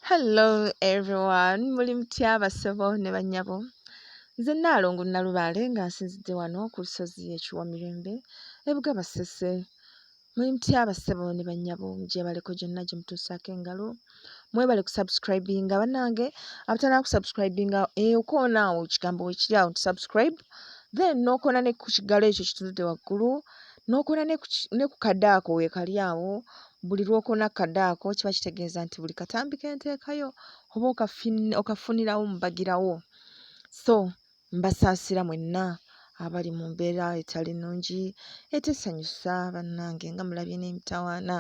Hello everyone, muli mutya basebo ne bannyabo? Nze Nnaalongo Nalubaale nga nsinzidde wano ku lusozi Ekiwamirembe e Bugaba Ssese. Muli mutya basebo ne bannyabo? Gyebaleko gyonna gye mutuusaako engalo. Mwebale kusubscribinga bannange, abatanaba kusubscribinga eyo eh, koona awo ekigambo wekiri awo nti subscribe then n'okoona ne ku kigalo ekyo kitunudde waggulu n'okoona ne ku kadaako weekali awo buli lw'okoona ku kade ako kiba kitegeeza nti buli katambi ke nteekayo oba okafunirawo mu bagirawo so mbasaasira mwenna abali mu mbeera etali nnungi etesanyusa bannange nga mulabye n'emitawaana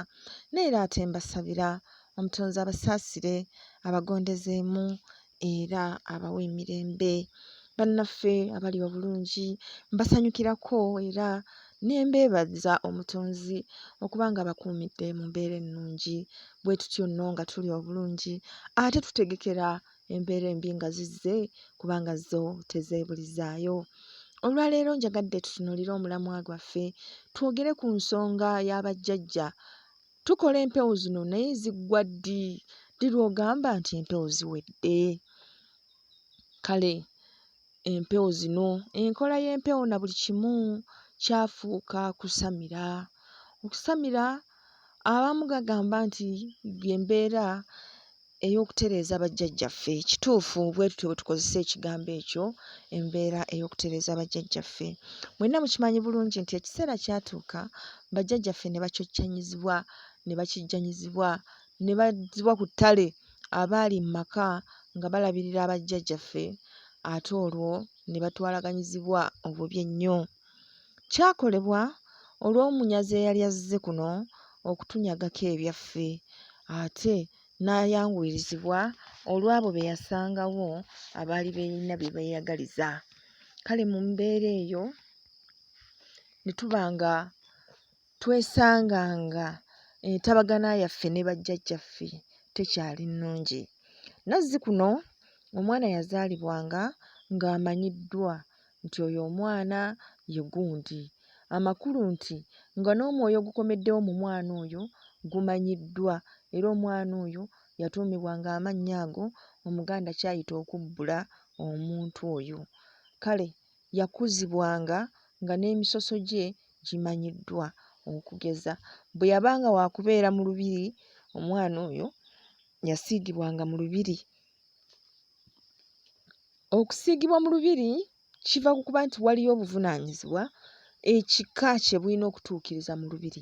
naye era ate mbasabira omutonzi abasaasire abagondezeemu era abawa emirembe. Bannaffe abali obulungi mbasanyukirako era ne mbeebaza Omutonzi okuba ng'abakuumidde mu mbeera ennungi bwe tutyo nno nga tuli obulungi ate tutegekera embeera embi nga zizze kubanga zo tezeebulizaayo. Olwaleero njagadde tutunuulire omulamwa gwaffe twogere ku nsonga ya bajjajja Tukola empewo zino naye ziggwa ddi? Ddi lw'ogamba nti empewo ziwedde? Kale empewo zino, enkola y'empewo na buli kimu kyafuuka kusamira. Okusamira abamu gagamba nti y'embeera ey'okutereeza bajjajjaffe. Kituufu bwe tutyo bwe tukozesa ekigambo ekyo, embeera ey'okutereeza bajjajjaffe. Mwenna mukimanyi bulungi nti ekiseera kyatuuka bajjajjaffe ne bacoccanyizibwa, ne bakijjanyizibwa, ne bazzibwa ku ttale abaali mu maka nga balabirira abajjajjaffe ate olwo ne batwalaganyizibwa obubi ennyo. Kyakolebwa olw'omunyazi eyali azze kuno okutunyagako ebyaffe ate n'ayanguyirizibwa olw'abo be yasangawo abaali balina bye beeyagaliza. Kale mu mbeera eyo ne tuba nga twesanga nga entabagana yaffe ne bajjajjaffe tekyali nnungi. Nazzikuno omwana yazaalibwanga ng'amanyiddwa nti oyo omwana ye gundi. Amakulu nti nga n'omwoyo ogukomeddewo mu mwana oyo gumanyiddwa era omwana oyo yatuumibwanga amannya ago Omuganda ky'ayita okubbula omuntu oyo. Kale yakuzibwanga nga n'emisoso gye gimanyiddwa okugeza bwe yabanga wa kubeera mu lubiri omwana oyo yasiigibwanga mu lubiri Okusiigibwa mu lubiri kiva ku kuba nti waliyo obuvunaanyizibwa ekika kye bulina okutuukiriza mu lubiri.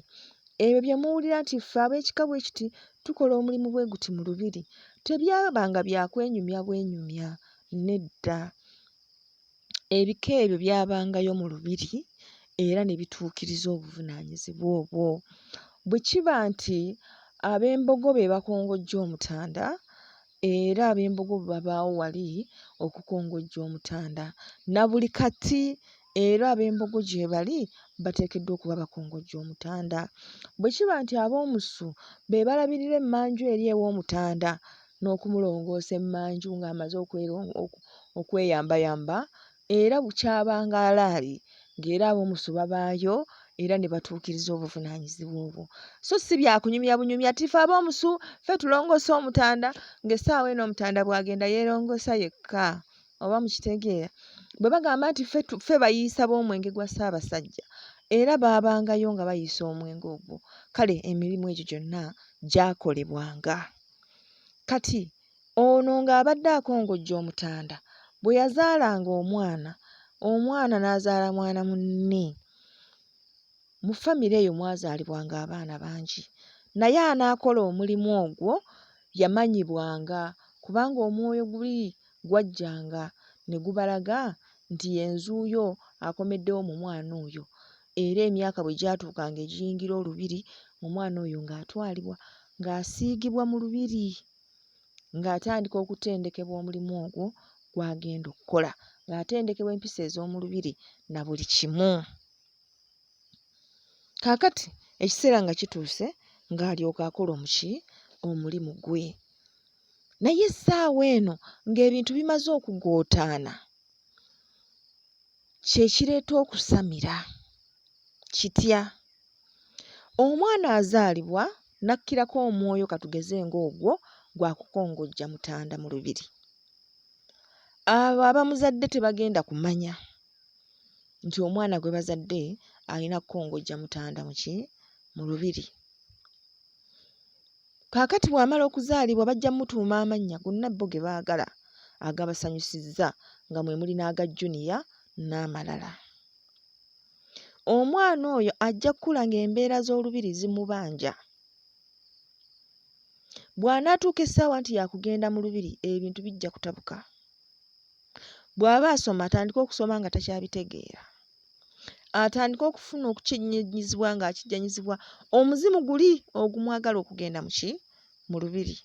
Ebyo bye muwulira nti ffe ab'ekika bwe kiti tukola omulimu bwe guti mu lubiri tebyabanga bya kwenyumya bwenyumya, nedda. Ebika ebyo byabangayo mu lubiri era ne bituukiriza obuvunaanyizibwa obwo. Bwe kiba nti ab'Embogo be bakongojja Omutanda era ab'Embogo babaawo wali okukongojja Omutanda. Na buli kati era ab'Embogo gyebali bateekeddwa okuba bakongojja Omutanda. Bwe kiba nti Aboomusu be balabirira emmanju eri ew'Omutanda n'okumulongoosa emmanju ng'amaze okweyambayamba era bukyaba ng'alaali ng'era ab'omusu babaayo era ne batuukiriza obuvunaanyizibwa obwo so si byakunyumya bunyumya ti fe ab'omusu fe tulongoosa omutanda ng'essaawa eno omutanda bw'agenda yeerongoosa yekka oba mukitegeera bwe bagamba nti fe bayiisa b'omwenge gwa ssaabasajja era baabangayo nga bayiisa omwenge ogwo kale emirimu egyo gyonna gyakolebwanga Kati ono ng'abadde akongojja omutanda bwe yazaalanga omwana, omwana n'azaala mwana munne. Mu famire eyo mwazaalibwanga abaana bangi naye anaakola omulimu ogwo yamanyibwanga kubanga omwoyo guli gwajjanga ne gubalaga nti ye nzuuyo akomeddewo mu mwana oyo. Era emyaka bwe gyatuukanga egiyingira olubiri, omwana oyo ng'atwalibwa ng'asiigibwa mu lubiri ng'atandika okutendekebwa omulimu ogwo gw'agenda okukola, ng'atendekebwa empisa ez'omu lubiri na buli kimu. Kaakati ekiseera nga kituuse ng'alyoka akola omuki omulimu gwe. naye essaawa eno ng'ebintu bimaze okugootaana kye kireeta okusamira kitya omwana azaalibwa n'akkirako omwoyo katugeze ng'ogwo gwa kukongojja mutanda mu lubiri abo abamuzadde tebagenda kumanya nti omwana gwe bazadde alina kukongojja mutanda muki mu lubiri Kaakati bw'amala okuzaalibwa bajja mutuuma amannya gonna bo ge baagala agabasanyusizza nga mwe muli n'aga Junior n'amalala. Omwana oyo ajja kukula ng'embeera z'Olubiri zimubanja. Bw'anaatuuka essaawa nti yaakugenda mu Lubiri ebintu bijja kutabuka. Bw'aba asoma atandike okusoma nga takyabitegeera. atandike okufuna okukyenyenyezebwa ng'akijjanyizibwa omuzimu guli ogumwagala okugenda mu ki mu lubiri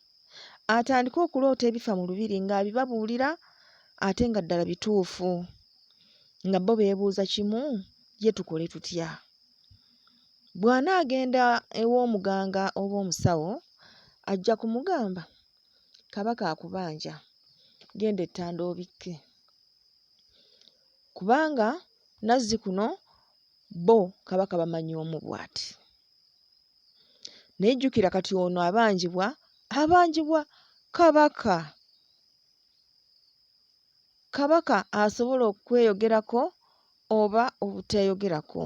atandike okuloota ebifa mu lubiri ng'abibabuulira ate nga ddala bituufu nga bo beebuuza kimu ye tukole tutya bw'anaagenda ew'omuganga oba omusawo ajja kumugamba kabaka akubanja genda ettanda obikke Kubanga nazzikuno bo kabaka bamanyi omu bwati naye jjukira kati ono abanjibwa abanjibwa kabaka kabaka asobola okweyogerako oba obuteeyogerako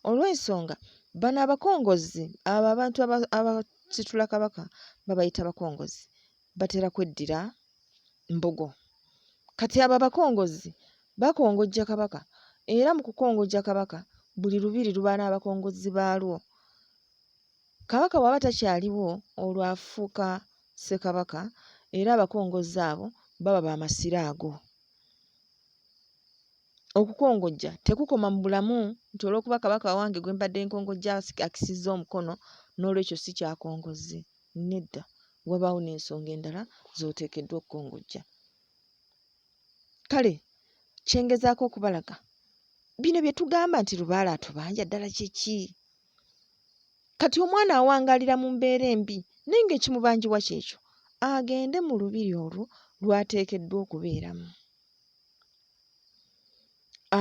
olw'ensonga bano abakongozzi abo abantu abasitula kabaka babayita bakongozzi batera kweddira Mbogo. Kati abo abakongozzi bakongojja Kabaka era mu kukongojja Kabaka buli lubiri luba n'abakongozzi baalwo. Kabaka bw'aba takyaliwo olwo afuuka Ssekabaka era abakongozzi abo baba ba masira ago. Okukongojja tekukoma mu bulamu nti olw'okuba Kabaka wange gwe mbadde nkongojja akisizza omukono n'olwekyo si kyakongozzi. Nedda, wabaawo n'ensonga endala z'oteekeddwa okukongojja. Kale kye ngezaako okubalaga, bino bye tugamba nti lubaale atubanja ddala kye ki? Kati omwana awangaalira mu mbeera embi naye ng'ekimubanjiwa kyekyo, agende mu lubiri olwo lw'ateekeddwa okubeeramu.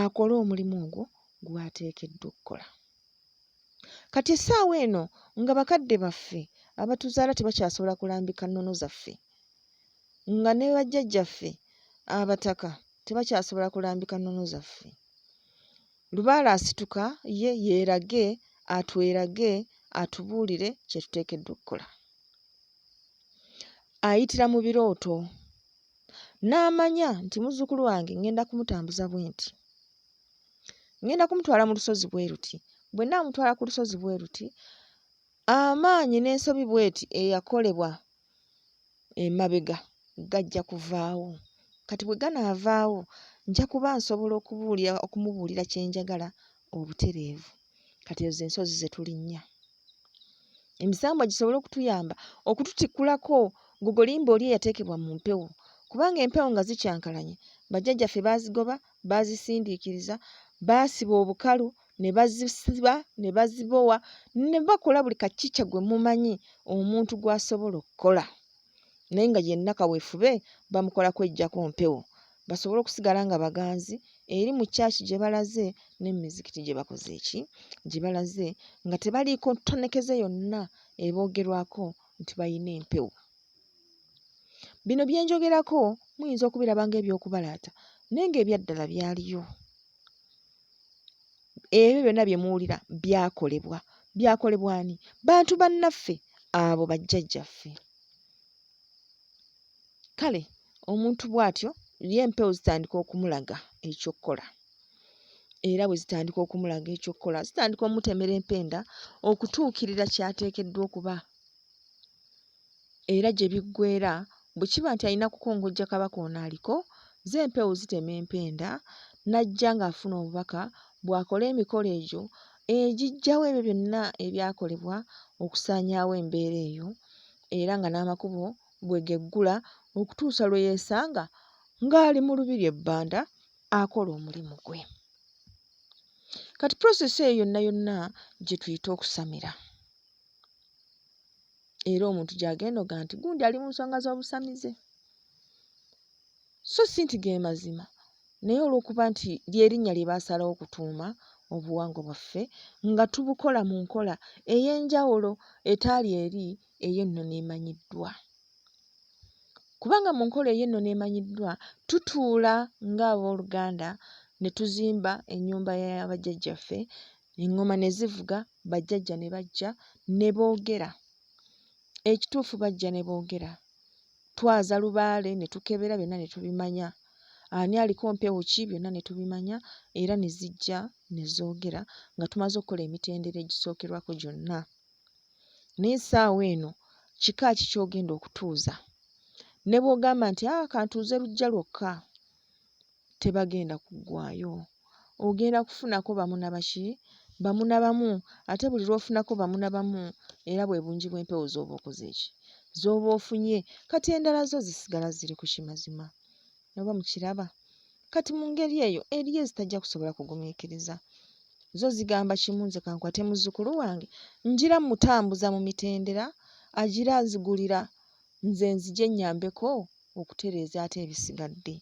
akole omulimu ogwo gw'ateekeddwa okukola. Kati essaawa eno nga bakadde baffe abatuzaala tebakyasobola kulambika nnono zaffe, nga ne bajjajjaffe abataka tebakyasobola kulambika nnono zaffe, Lubaale asituka ye yeerage, atwerage, atubuulire kye tuteekeddwa okukola. Ayitira mu birooto. n'amanya nti muzzukulu wange ŋŋenda kumutambuza bwe nti ŋŋenda kumutwala mu lusozi bwe luti bwe naamutwala ku lusozi bwe luti amaanyi n'ensobi bw'eti eyakolebwa emabega gajja kuvaawo kati bwe ganaavaawo nja kuba nsobola okubuulira okumubuulira kye njagala obutereevu kati ezo ze nsozi ze tulinnya. emisambwa gisobole okutuyamba okututikulako gugolimba oli eyateekebwa mu mpewo kubanga empewo nga zikyankalanye bajjajjaffe baazigoba baazisindiikiriza baasiba obukalu ne bazisiba ne bazibowa ne bakola buli kakica gwe mumanyi omuntu gw'asobola okukola naye nga yenna kaweefube bamukola kweggyako mpewo basobole okusigala nga baganzi eri mu kyaki gye balaze ne mu mizikiti gye bakoze eki gye balaze nga tebaliiko ntonnekeze yonna eboogerwako nti balina empewo. Bino bye njogerako muyinza okubiraba ng'ebyokubalaata naye ng'ebyaddala byaliyo. ebyo byonna bye muwulira byakolebwa. Byakolebwa ani? Bantu bannaffe abo bajjajjaffe. Kale omuntu bw'atyo ye empewo zitandika okumulaga eky'okukola era bwe zitandika okumulaga eky'okukola zitandika omutemera empenda okutuukirira ky'ateekeddwa okuba. Era gye biggweera, bwe kiba nti alina kukongojja Kabaka ono aliko, z'empewo zitema empenda, n'ajja ng'afuna obubaka, bw'akola emikolo egyo egiggyawo ebyo byonna ebyakolebwa okusaanyaawo embeera eyo, era nga n'amakubo bwe geggula okutuusa lwe yeesanga ng'ali mu Lubiri e Banda akola omulimu gwe. Kati process eyo yonna yonna gye tuyita okusamira. era omuntu gy'agenda oga nti gundi ali mu nsonga z'obusamize so si nti ge mazima naye olw'okuba nti ly'erinnya lye baasalawo okutuuma obuwangwa bwaffe nga tubukola mu nkola ey'enjawulo etaali eri ey'ennono emanyiddwa kubanga mu nkola ey'ennono emanyiddwa tutuula ng'abooluganda ne tuzimba ennyumba ya bajjajjaffe eŋŋoma ne zivuga bajjajja ne bajja ne boogera. Ekituufu bajja ne boogera. Twaza lubaale ne tukebera byonna ne tubimanya. Ani aliko mpewo ki byonna ne tubimanya era ne zijja ne zoogera nga tumaze okukola emitendera egisookerwako gyonna. Naye essaawa eno kika ki ky'ogenda okutuuza? Ne bw'ogamba nti ah kantuuze luggya lwokka tebagenda kuggwaayo. Ogenda kufunako bamu na baki? Bamu na bamu. Ate buli lw'ofunako bamu na bamu era bwe bungi bw'empewo z'oba okoze ki? Z'oba ofunye. Kati endala zo zisigala ziri ku kimazima. Oba mukiraba? Kati mu ngeri eyo eriyo ezitajja kusobola kugumiikiriza. Zo zigamba kimu, nze kankwate muzzukulu wange, ngira mmutambuza mu mitendera, agira anzigulira nze nzije nnyambeko okutereeza ate ebisigadde.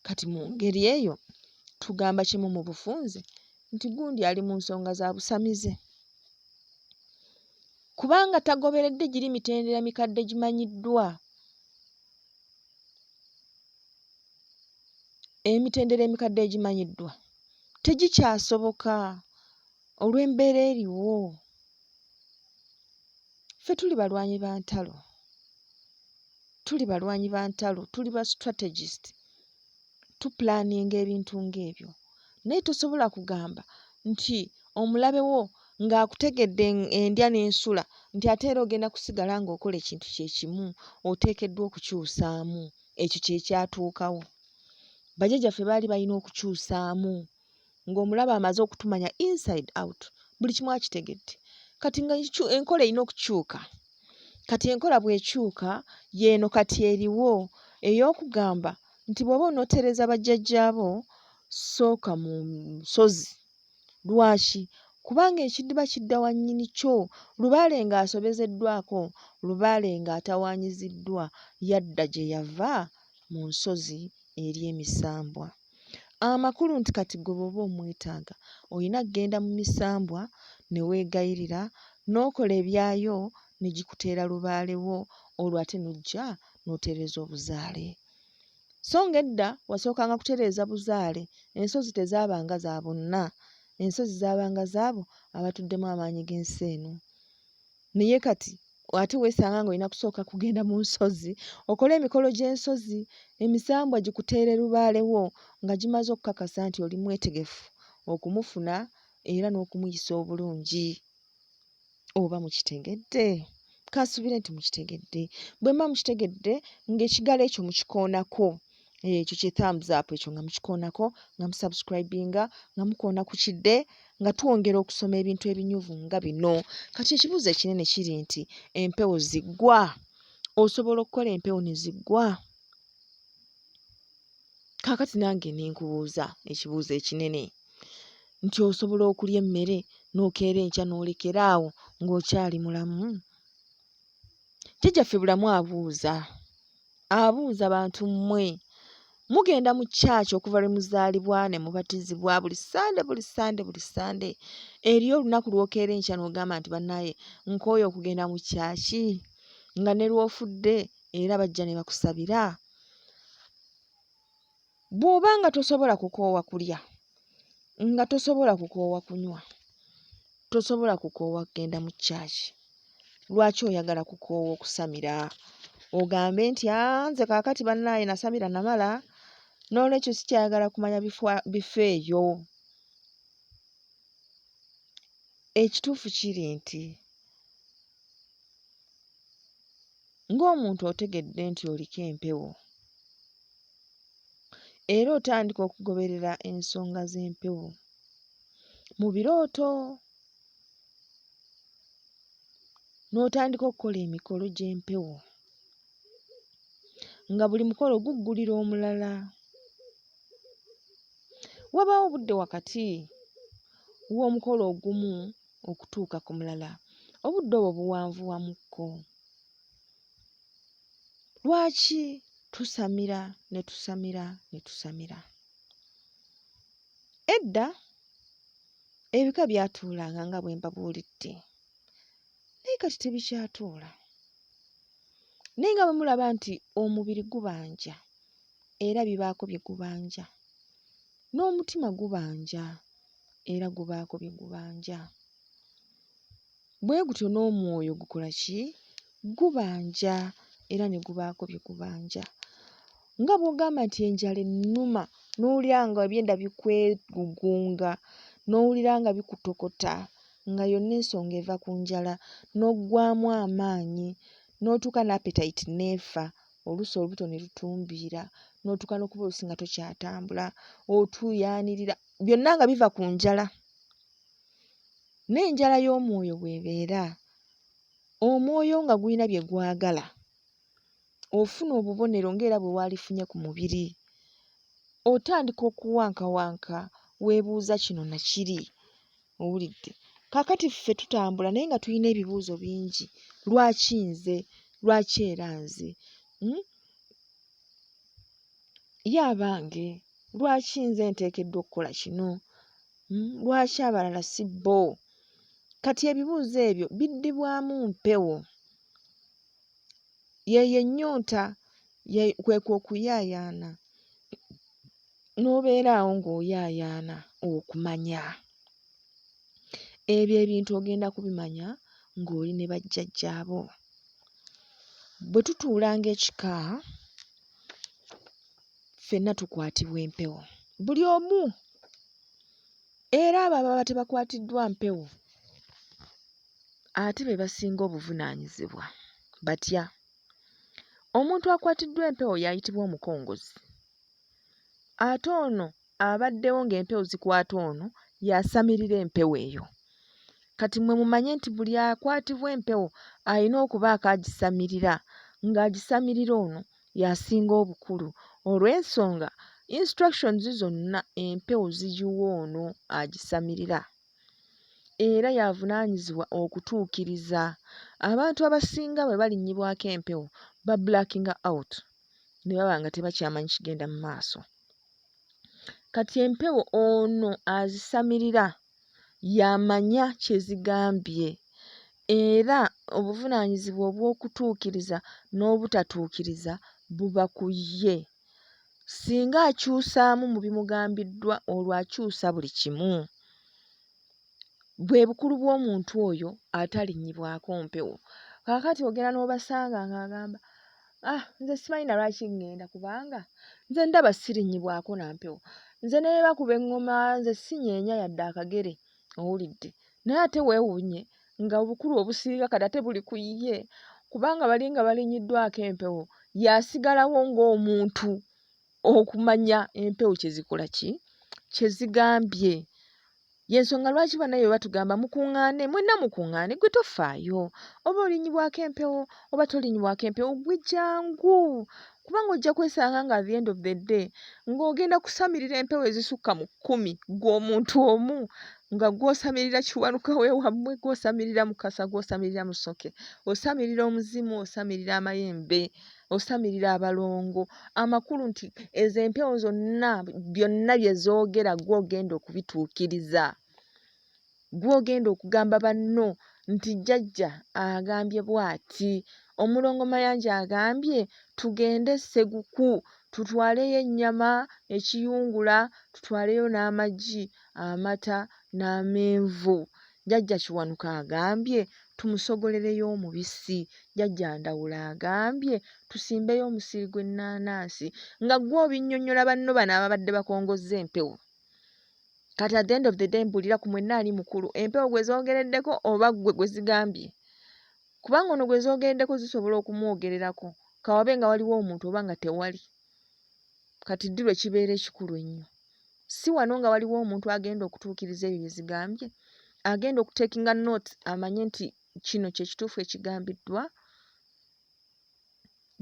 Kati mu ngeri eyo tugamba kimu mu bufunze nti gundi ali mu nsonga za busamize. Kubanga tagoberedde giri mitendera mikadde gimanyiddwa. Emitendera emikadde egimanyiddwa tegikyasoboka olw'embeera eriwo ffe tuli balwanyi ba ntalo tuli balwanyi ba ntalo tuli ba strategist tuplaninga ebintu ng'ebyo naye tosobola kugamba nti omulabe wo ng'akutegedde endya n'ensula nti ate era ogenda kusigala ng'okola ekintu kye kimu oteekeddwa okukyusaamu ekyo kye kyatuukawo bajajjaffe baali balina okukyusaamu ng'omulabe amaze okutumanya inside out buli kimu akitegedde kati nga enkola erina okukyuka kati enkola bw'ekyuka yeeno kati eriwo ey'okugamba nti bw'oba onotereza bajjajjaabo sooka mu nsozi lwaki kubanga ekidiba kidda wa nnyini kyo lubaale ng'asobezeddwako lubaale ng'atawaanyiziddwa yadda gye yava mu nsozi eri emisambwa. Amakulu nti kati ggwe bw'oba omwetaaga olina kugenda mu misambwa ne weegayirira n'okola ebyayo ne gikuteera lubaale wo olwo ate n'ojja n'otereeza obuzaale. So ng'edda wasookanga kutereeza buzaale, ensozi tezaabanga za bonna, ensozi zaabanga zaabo abatuddemu amaanyi g'ensi eno. naye kati ate weesanga ng'olina kusooka kugenda mu nsozi okole emikolo gy'ensozi emisambwa gikuteere lubaale wo nga gimaze okukakasa nti oli mwetegefu okumufuna era n'okumuyisa obulungi oba mukitegedde kansubire nti mukitegedde bwe mba mukitegedde ng'ekigalo ekyo mukikoonako ekyo kye thumbs up ekyo nga mukikoonako nga musubscribinga nga mukoona ku kidde nga twongera okusoma ebintu ebinyuvu nga bino kati ekibuuzo ekinene kiri nti empewo ziggwa osobola okukola empewo ne ziggwa kaakati nange ne nkubuuza ekibuuzo ekinene nti osobola okulya emmere n'okeera enkya n'olekera awo ng'okyali mulamu jjajjaffe bulamu abuuza Abuuza, Bantu mmwe, mugenda mu kyaki okuva lwe muzaalibwa ne mubatizibwa buli Ssande, buli Ssande, buli Ssande, eri olunaku lw'okeera enkya n'ogamba nti, Bannaaye, nkooye okugenda mu kyaki, nga ne lw'ofudde era bajja ne bakusabira? Bw'oba nga tosobola kukoowa kulya, nga tosobola kukoowa kunywa, tosobola kukoowa kugenda mu church, lwaki oyagala kukoowa okusamira ogambe nti aa nze kaakati bannaaye nasamira namala n'olwekyo sikyayagala kumanya bifo eyo. Ekituufu kiri nti Ng'omuntu otegedde nti oliko empewo era otandika okugoberera ensonga z'empewo mu birooto n'otandika okukola emikolo gy'empewo nga buli mukolo guggulira omulala. Wabaawo obudde wakati w'omukolo ogumu okutuuka ku mulala, obudde obwo buwanvuwamukko. Lwaki tusamira ne tusamira ne tusamira? Edda ebika byatuulanga nga bwe mbabuulidde, naye kati tebikyatuula. Naye nga bwe mulaba nti omubiri gubanja era bibaako bye gubanja, n'omutima gubanja era gubaako bye gubanja. Bwe gutyo n'omwoyo gukola ki? Gubanja era ne gubaako bye gubanja. Nga bw'ogamba nti enjala ennuma n'owulira nga ebyenda bikwegugunga, n'owulira nga bikutokota nga yonna ensonga eva ku njala, n'oggwaamu amaanyi n'otuuka n'apetayiti n'efa, oluusi olubuto ne lutumbiira n'otuuka n'okuba oluusi nga tokyatambula, otuuyaanirira, byonna nga biva ku njala. n'enjala y'omwoyo bw'ebeera, omwoyo nga gulina bye gwagala, ofuna obubonero nga era bwe waalifunye ku mubiri. Otandika okuwankawanka, weebuuza kino na kiri. Owulidde? Kaakati ffe tutambula naye nga tulina ebibuuzo bingi. Lwaki nze? Lwaki era nze? Hmm? Ye abange, lwaki nze nteekeddwa okukola kino? Hmm, lwaki abalala si bo kati ebibuuzo ebyo biddibwamu mpewo yeyo ennyonta kwekwo okuyaayaana n'obeera awo ng'oyaayaana okumanya ebyo ebintu ogenda kubimanya ng'oli ne bajjajjaabo bwe tutuulanga ekika ffenna tukwatibwa empewo buli omu era abo ababa tebakwatiddwa mpewo ate be basinga obuvunaanyizibwa batya omuntu akwatiddwa empewo y'ayitibwa omukongozi ate ono abaddewo ng'empewo zikwata ono y'asamirira empewo eyo kati mwe mumanye nti buli akwatibwa empewo alina okuba akaagisamirira ng'agisamirira ono y'asinga obukulu olw'ensonga instructions zonna empewo zigiwa ono agisamirira era y'avunaanyizibwa okutuukiriza. Abantu abasinga bwe balinnyibwako empewo ba blacking out ne baba nga tebakyamanyi kigenda mu maaso. Kati empewo ono azisamirira y'amanya kye zigambye era obuvunaanyizibwa obw'okutuukiriza n'obutatuukiriza buba ku ye. Singa akyusaamu mu bimugambiddwa olwo akyusa buli kimu. Bwe bukulu bw'omuntu oyo atalinyibwako mpewo. Kaakati ogenda n'obasanga ng'agamba ah nze simanyi na lwaki ŋŋenda kubanga nze ndaba sirinyibwako na mpewo nze naye bakuba eŋŋoma nze sinyeenya yadde akagere owulidde naye ate weewuunye nga obukulu obusinga kati ate buli ku ye kubanga bali nga balinyiddwako empewo yasigalawo ng'omuntu okumanya empewo kye zikola ki kye zigambye yensonga lwaki banaye batugamba mukuŋŋaane mwenna mukuŋŋaane gwe tofaayo oba olinyibwako empewo oba tolinyibwako empewo gwe jangu kubanga ojja kwesanga nga the end of the day ng'ogenda kusamirira empewo ezisukka mu kkumi gw'omuntu omu nga gwosamirira kiwanuka wewammwe gwosamirira mukasa gwosamirira musoke osamirira omuzimu osamirira amayembe osamirira abalongo amakulu nti ezo empewo zonna byonna bye zoogera gwe ogenda okubituukiriza gwe ogenda okugamba banno nti jjajja agambye bw'ati omulongo mayanja agambye tugende seguku tutwaleyo ennyama ekiyungula tutwaleyo n'amagi amata n'amenvu Jjajja Kiwanuka agambye tumusogolereyo omubisi, Jjajja Ndawula agambye tusimbeyo omusiri gw'ennaanansi nga gwo obinnyonnyola banno bano ababadde bakongozza empewo. Kati at the end of the day mbulira ku mwenna ani mukulu empewo gwe zoogereddeko oba ggwe gwe zigambye? Kubanga ono gwe zoogereddeko zisobola okumwogererako kawabe nga waliwo omuntu oba nga tewali. Kati ddi lwe kibeera ekikulu ennyo? si wano nga waliwo omuntu agenda okutuukiriza ebyo bye zigambye agenda okutekinga notes amanye nti kino kye kituufu ekigambiddwa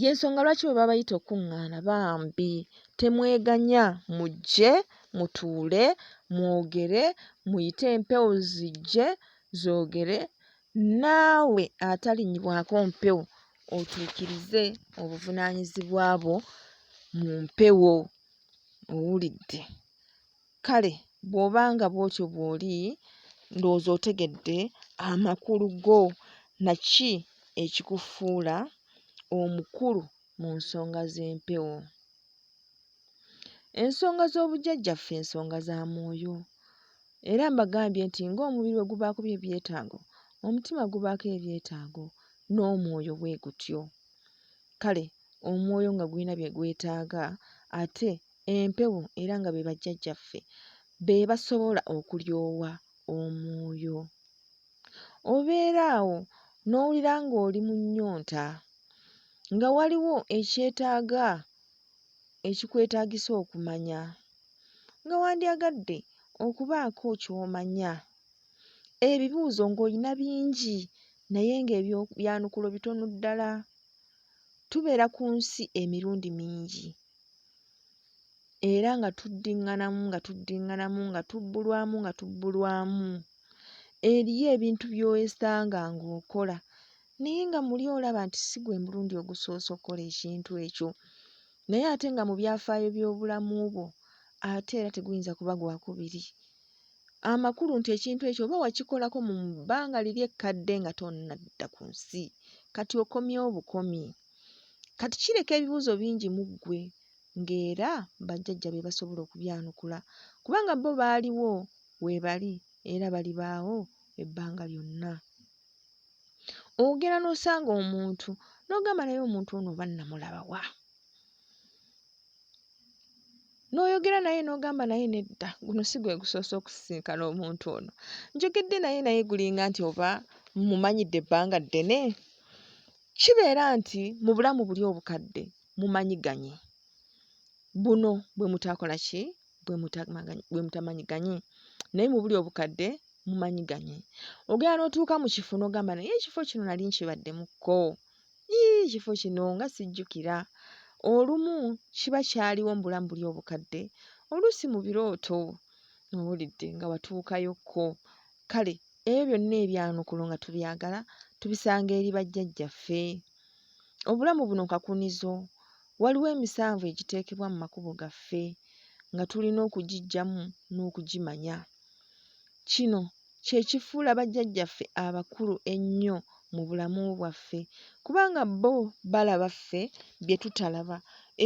y'ensonga lwaki bwe babayita okukuŋŋaana bambi temweganya mujje mutuule mwogere muyite empewo zijje zoogere Naawe atalinyibwako mpewo otuukirize obuvunaanyizibwa bwo mu mpewo. Owulidde? Kale bw'oba nga bw'otyo bw'oli, ndowooza otegedde amakulu go na ki ekikufuula omukulu mu nsonga z'empewo. Ensonga z'obujjajjaffe nsonga za mwoyo era mbagambye nti ng'omubiri bwe gubaako bye byetaago, omutima gubaako ebyetaago n'omwoyo bwe gutyo. Kale omwoyo nga gulina bye gwetaaga ate empewo era nga be bajjajjaffe be basobola okulyowa omwoyo. Obeera awo n'owulira ng'oli mu nnyonta. Nga waliwo ekyetaaga ekikwetaagisa okumanya? Nga wandyagadde okubaako ky'omanya? Ebibuuzo ng'olina bingi naye ng'ebyanukulo bitono ddala. Tubeera ku nsi emirundi mingi era nga tuddiŋŋanamu nga tuddiŋŋanamu nga tubbulwamu nga tubbulwamu. Eriyo ebintu by'osanga ng'okola naye nga muli olaba nti si gwe mulundi ogusoose okukola ekintu ekyo naye ate nga mu byafaayo by'obulamu bwo ate era teguyinza kuba gwakubiri amakulu nti ekintu ekyo oba wakikolako mu bbanga liri ekkadde nga tonnadda ku nsi kati okomye obukomi kati kireka ebibuuzo bingi mu ggwe ng'era bajjajja be basobola okubyanukula kubanga bo baaliwo weebali era balibaawo ebbanga lyonna ogera nosanga omuntu nogamba naye omuntu ono oba namulabawa noyogera naye nogamba naye nedda guno si gwe gusoose okusisinkana omuntu ono njogedde naye naye gulinga nti oba mumanyidde ebbanga ddene kibeera nti mu bulamu buli obukadde mumanyiganye buno bwe mutakola ki bwe mutamanyiganye naye mu buli obukadde mumanyiganye ogenda n'otuuka mu kifo n'ogamba naye ekifo kino nali nkibaddemuko ii ekifo kino nga sijjukira olumu kiba kyaliwo mu bulamu buli obukadde oluusi mu birooto owulidde nga watuukayokko kale ebyo byonna ebyanukulo nga tubyagala tubisanga eri bajjajjaffe obulamu buno kakunizo Waliwo emisanvu egiteekebwa mu makubo gaffe nga tulina okugiggyamu n'okugimanya. Kino kye kifuula bajjajjaffe abakulu ennyo mu bulamu bwaffe kubanga bo balaba ffe bye tutalaba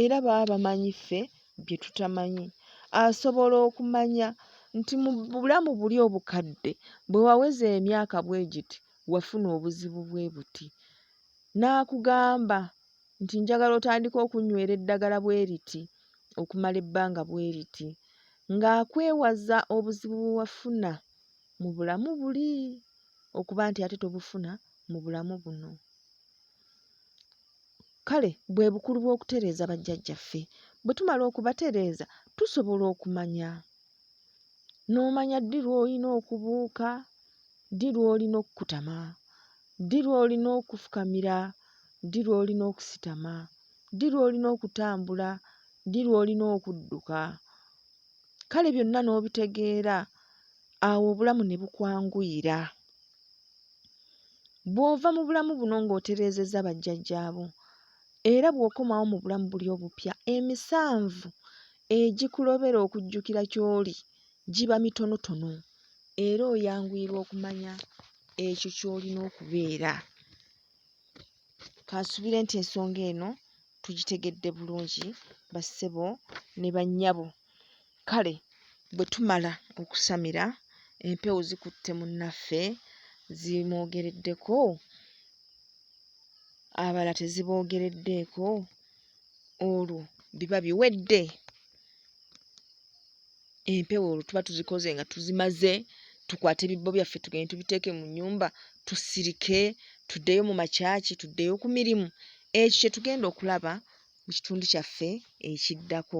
era baba bamanyi ffe bye tutamanyi. Asobola okumanya nti mu bulamu buli obukadde bwe waweza emyaka bwe giti wafuna obuzibu bwe buti n'akugamba nti njagala otandike okunywera eddagala bwe liti okumala ebbanga bwe liti ng'akwewaza obuzibu bwe wafuna mu bulamu buli okuba nti ate tobufuna mu bulamu buno. Kale bwe bukulu bw'okutereeza bajjajjaffe. Bwe tumala okubatereeza tusobola okumanya n'omanya ddi lw'olina okubuuka, ddi lw'olina okukutama. Ddi lw'olina okufukamira? Ddi lw'olina okusitama? Ddi lw'olina okutambula? Ddi lw'olina okudduka? Kale byonna n'obitegeera, awo obulamu ne bukwanguyira. Bw'ova mu bulamu buno ng'otereezezza bajjajjaabo, era bw'okomawo mu bulamu buli obupya, emisanvu egikulobera okujjukira ky'oli giba mitonotono. era oyanguyirwa okumanya ekyo ky'olina okubeera kansubire nti ensonga eno tugitegedde bulungi bassebo ne bannyabo kale bwe tumala okusamira empewo zikutte munnaffe zimwogereddeko abala teziboogereddeeko olwo biba biwedde empewo olwo tuba tuzikoze nga tuzimaze tukwate ebibbo byaffe tugende tubiteeke mu nyumba tusirike tuddeyo mu makyaki tuddeyo ku mirimu ekyo kye tugenda okulaba mu kitundu kyaffe ekiddako